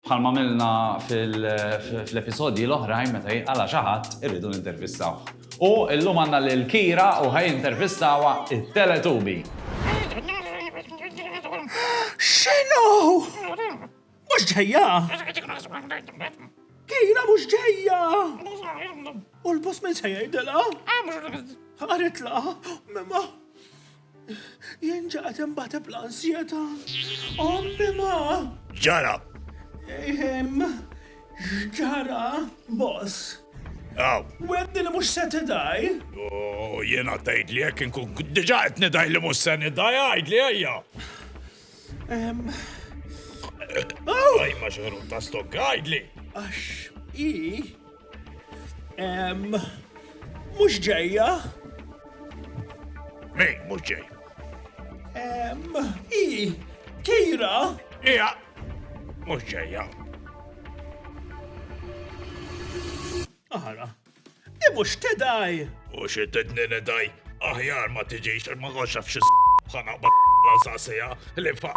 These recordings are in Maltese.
Bħalma għamilna fl-episodji l-oħrajn meta jinqala' xi ħadd irridu nintervistawh. U llum għandna lil Kira u ħa jintervistawha t-Teletubi. X'inhu? Mhux ġejja? Kira mhux ġejja! U l-boss min se jgħidilha? Qaritla? Jien ġaqgħet inbateb l-ansjetà. Ommi ma! Ġara! Ehm, x'ġara, boss? Aw. Wedni li mhux se tidaj? U jiena tgħid li jekk inkun diġà qed nidaj li mhux se nidaj, għidli ejja. Għaj, ma xorru ta' stok għajdli. Għax, i. Mux ġeja. Mi, mux ġej. I, kira. Ija, mux ġeja. Aħara. Hi mhux tidgħi! U xi tedni nidgħi? Aħjar ma tiġix għax ma kontx naf xi bħana bla saqsija li fa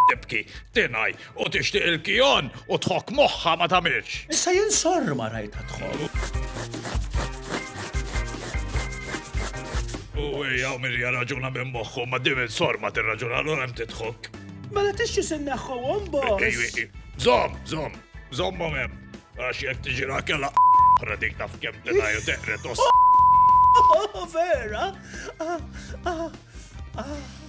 tibki, tingħi u tixtieq il-kijon u tħokk moħħha ma tagħmilx. Issa jien sorr ma rajtha tħokk. U hija Mirja raġuna minn moħħu ma dim il-sor ma tirraġuna l hemm titħok. Mela tixxi sinneħħu għom boss. Zom, zom, zom mom hemm. Għax jek tiġira kella oħra dik taf kem tenaju teqret os. Oh, vera? Ah, ah, ah.